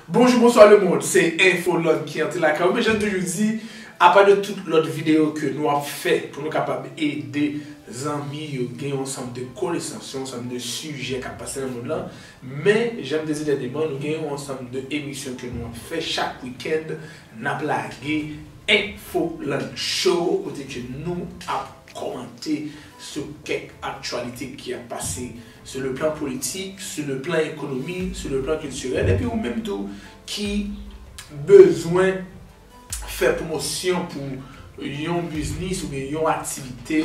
Bonjou bonswa le mond se infoland ki antre lakay ou men jan toujou di apa de tout lòt videyo ke nou ap fè pou nou kapab ede zanmi yo gen yon ansanm de konesans yon ansanm de sijè kap pase nan mond lan men jan m te di dènyeman nou gen yon ansanm de emisyon ke nou ap fè chak wikèn nap lage infoland show kote ke nou ap kòmante sou kèk aktyalite ki ap pase sou le plan politik, sou le plan ekonomi, sou le plan kiltirèl epi ou menm tou ki bezwen fè pwomosyon pou yon biznis oubyen yon aktivite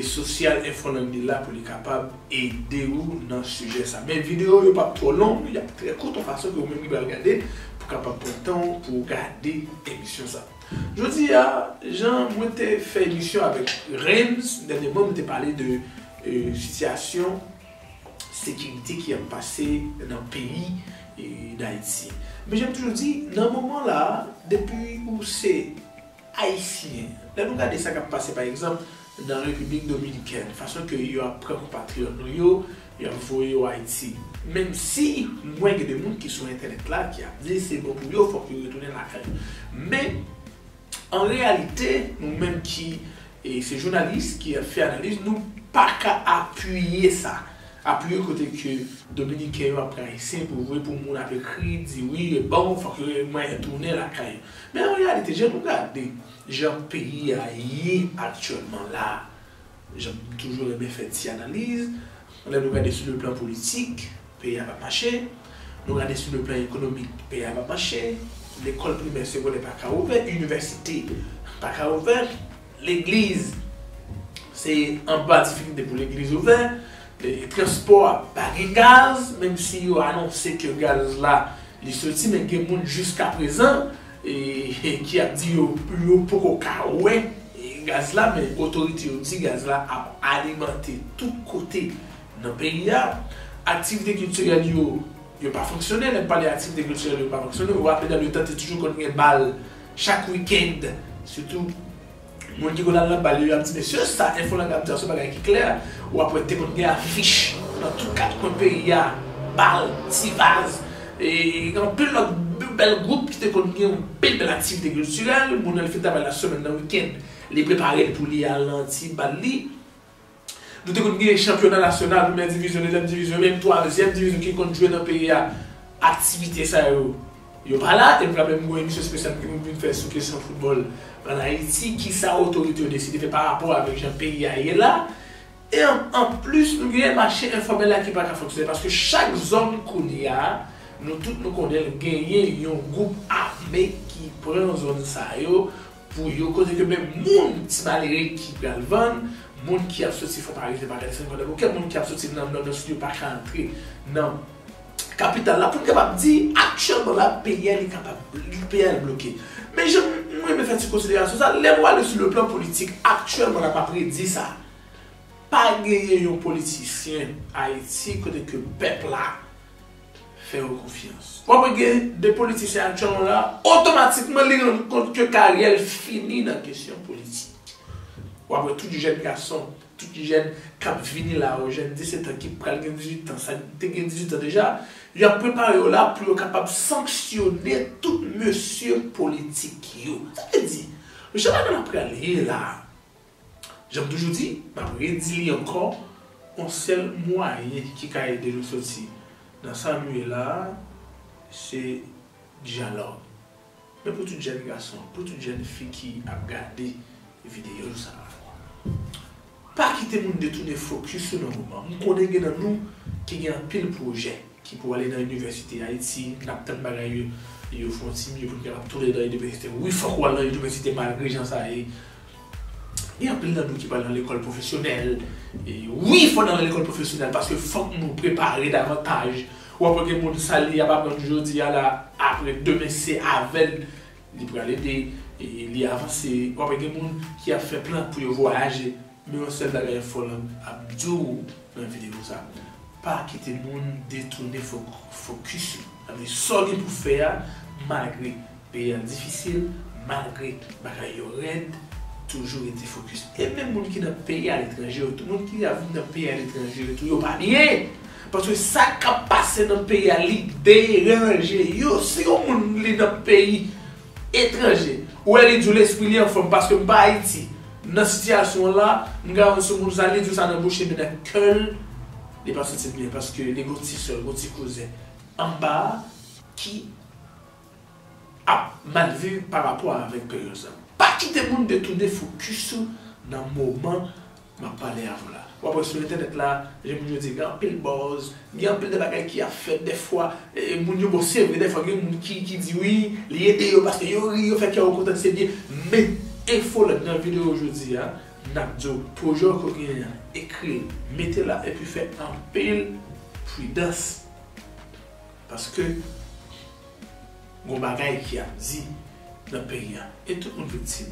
sosyal Infolangue la pou li kapab ede ou nan sijè sa. Men videyo yo pap twò long, yap trè kout yon fason ke ou menm ki pral gade pou kapab pran tan ou pou ou gade emisyon sa. Jodi a, jan mwen te fè emisyon avèk Reims dènyèman, mwen te pale de sitiyasyon sekirite ki ap pase nan peyi Dayiti. Men jan m toujou di, nan moman la a, depi ou se Ayisyen, lè nou gade sa k ap pase pa egzanp nan Repiblik Dominikèn, fason ke yo ap pran konpatriyòt nou yo, yo ap voye yo Ayiti. Menm si mwen gen de moun ki sou entènèt la ki ap di se bon pou yo, fòk yo retounen lakay yo. Men, an reyalite, nou menm ki se jounalis, ki ap fè analiz, nou pa ka apiye sa. Apiye kote ke Dominiken yo ap pran Ayisyen pou voye pou moun ap ekri, di wi, bon, fòk yo gen mwayen tounen lakay yo. Men an reyalite, jan nou gade. Jan peyi a ye aktyèlman la, jan m toujou renmen fè ti analiz, lè nou gade sou le plan politik, peyi a pa mache, nou gade sou le plan ekonomik, peyi a pa mache, lekòl primè, segondè pa ka ouvè, inivèsite pa ka ouvè, legliz se anba difikilte pou legliz ouvè, transpò a pa gen gaz, menm si yo anonse ke gaz la li soti men gen moun jiskaprezan E ki ap di yo yo poko ka wè gaz la men otorite yo di gaz la ap alimante tout kote nan peyi a. Aktivite kiltirèl yo yo pa fonksyone, lè m pale aktivite kiltirèl yo pa fonksyone, ou raple dan yo tante toujou konn gen bal chak weekend sitou. Moun ki konn al nan bal yo yap di mesye sa enfo lang ap di a son bagay ki klè wap wè te konn gen afich nan tout kat kwen peyi a bal ti vaz e gen anpil lòt bèl gwoup ki te konn gen anpil bèl aktivite kiltirèl moun al fè travay la semèn nan wikend li prepare l pou li al nan ti bal li. Nou te konn genyen chanpyona nasyonal, premyè divizyon, dezyèm divizyon, menm twazyèm divizyon ki konn jwe nan peyi a, aktivite sa yo, yo pa la. E nou pral menm gen yon emisyon espesyal nou te konn vin fè sou kesyon foutbòl ann Ayiti, ki sa otorite yo deside fè parapò avèk jan peyi a ye la. E anplis, nou genyen mache enfòmèl la ki pa ka fonksyone, paske chak zòn kounye a, nou tout nou konnen l, genyen yon gwoup ame ki pran zòn sa yo Pou yo koze ke menm moun ti malere ki pral vann, moun ki ap soti Fòmarive pa ka desann Kwadèboukè, moun ki ap soti nan Nò nan Sid yo pa ka antre nan kapital la pou n kapab di aktyèlman la peyi a li kapab peyi a li bloke. Men jan m renmen fè ti konsiderasyon sa, lè nou ale sou le plan politik aktyèlman la m ap redi sa, pa genyen yon politisyen Ayiti kote ke pèp la fè yo konfyans. Wap wè gen de politisyen aktyon yo la, otomatikman li rann kont ke karyè l fini nan kesyon politik. Wap wè tout jèn gason, tout jèn kap vini la yo, jèn 17 an ki pral gen 18 an, sa ki te gen 18 an deja, yo ap prepare yo la pou yo kapab sanksyone tout mesye politik yo. Sa vle di, mesye pa gen ap pral ye la, Jan m toujou di, m ap redi li ankò, yon sèl mwayen ki ka ede nou soti nan sa nou ye la a, se dyalòg. Men pou tout jèn gason, pou tout jèn fi ki ap gade videyo sa a, pa kite moun detounen fokis ou nan moman an. M konnen gen nan nou ki gen anpil pwojè. ki pou ale nan inivèsite ayiti nap tann bagay yo yo fon ti mye poun kapab tounen nan inivèsite wi fòk wal nan inivèsite malgre jan sa ye gen anpil nan nou ki pral nan lekòl pwofesyonèl wi fò nan lekòl pwofesyonèl paske fòk nou prepare davantaj wap wè gen moun sa li ap aprann jodi a la aprè demen se avèl li pral ede li avanse wap wè gen moun ki ap fè plan pou yo vwayaje. Men yon sèl bagay Folland ap di w nan videyo sa, pa kite moun detounen fokis ou. Sa vle di sa w gen pou fè a malgre peyi a difisil, malgre bagay yo rèd, toujou rete fokis. E menm moun ki nan peyi aletranje yo tou, moun ki ap vin nan peyi aletranje yo tou yo pa byen. Paske sa k ap pase nan peyi a li deranje yo. Si yon moun li nan peyi. Etranje. Ou wè li diw lespri li anfòm paske m pa ayiti nan sitiyasyon la m ka yon soumoun sa li diw sa nan bouche men nan kèl li pa santil byen paske li gon ti sèl gon ti kouzen anba ki ap mal viv parapò avèk peryòd sa. Pa kite moun detounen fokis ou nan moman. Map pale avw la wap wè sou entènèt la jan moun yo di gen anpil buzz gen anpil de bagay ki ap fèt dèfwa moun yo bon se vre dèfwa gen moun ki ki di wi li ede yo paske yo ri yo fè kè yo kontan se byen men Infolot nan video jodi a nap diw pwojè w ke w genyen an ekril mete la epi fè anpil pridans paske. Gon bagay ki ap di nan peyi a e tout moun viktim.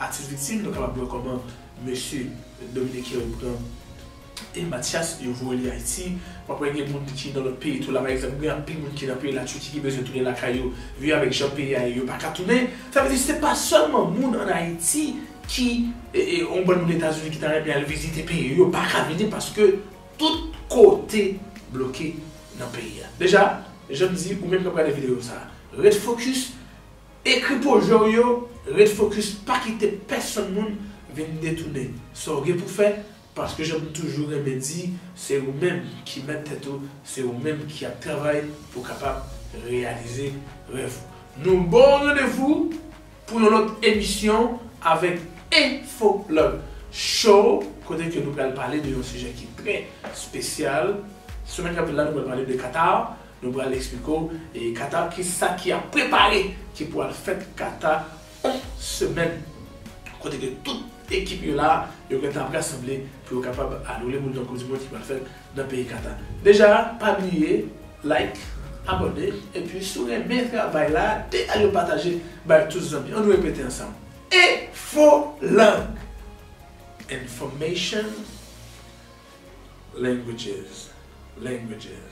Atis viktim nou kapab wè kòman mesye dominiken yo pran e matyas yo voye li ayiti wap wè gen moun ki nan lòt peyi tou la pa egzanp gen anpil moun ki nan peyi la turquie ki bezwen tounen lakay yo vi avèk jan peyi a ye yo paka tounen sa vle di se pa sèlman moun an ayiti ki e on bann moun etazini ki ta renmen al vizite peyi yo yo paka vini paske Tout kote bloke nan peyi a. Deja, janm di ou menm kap gade video sa, ret focus, ekri pwojè w yo, ret focus pa kite pèsonn moun vin detounen sa w gen pou fè paske janm toujou renmen di se ou menm ki mèt tèt ou, se ou menm ki ap travay pou kapab reyalize rèv ou. Nou baw randevou Pou yon lòt emisyon avèk Info Plug Show kote ke nou pral pale de yon sijè ki trè spesyal. Semèn kap vini la nou pral pale de Qatar, nou pral esplike w e Qatar kisa ki ap prepare ki pou al fèt Qatar on semèn kote ke tout ekip yo la, yo gentan ap rasanble pou yo kapab al woule boul nan koup di mond ki pral fèt nan peyi Qatar. Deja pa bliye like, abone epi si w renmen travay la de al yo pataje bay tout zanmi yo an nou repete ansanm Infolang Information Languages Languages.